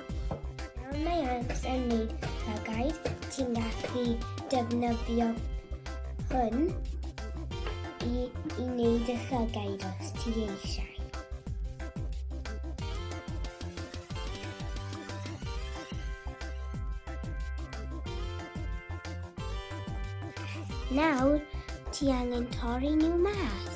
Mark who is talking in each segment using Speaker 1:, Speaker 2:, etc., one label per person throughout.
Speaker 1: Nawr mae Anx yn neud llygaid, ti'n gallu defnyddio hwn i, i wneud y llygaid os ti eisiau. Nawr, ti angen torri nhw mas.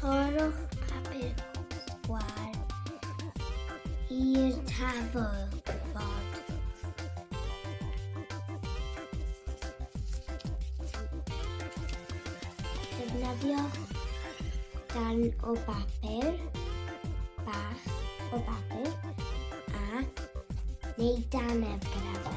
Speaker 1: Torrwch papur gwal i'r tafol bod. Defnyddio dan o bapur, bach o bapur, a neu daneb gyda fe.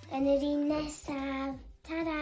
Speaker 1: Yn yr un nesaf. Ta-ra!